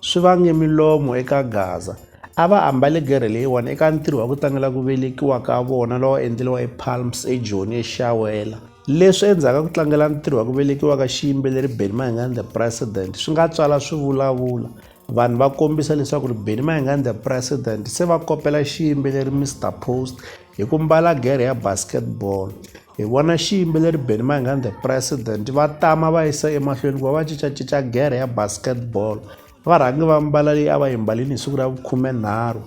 swi vange milomo eka Gaza. A va ambale gerhe leyiwani eka ntirho wa ku tlangela ku velekiwa ka vona lowa endleriwa ePalms eJoni eShawela. Leswi endzhaku ka ku tlangela ntirho wa ku velekiwa ka xiyimbeleri Benny Mayengani the President swi nga tswala swivulavula. Vanhu va kombisa leswaku ri Benny Mayengani the President se va kopela xiyimbeleri Mister Post hi ku mbala gere ya basketball hi vona xiyimbeleri benny mangan the president va tama va yisa emahlweni ku va va cincacinca gere ya basketball va rhangi va mbala leyi a va yi mbalini hi siku ra vukhumenharhu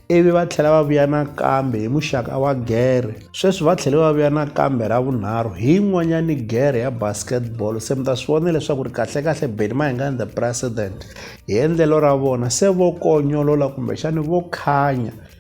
ivi va tlhela va vuya nakambe hi muxaka wa gere sweswi va tlhele va vuya nakambe ra vunharhu hi yin'wanyani gere ya basketball se mi ta swi vona leswaku ri kahlekahle benny mahingani the president hi endlelo ra vona se vo konyolola kumbexani vo khanya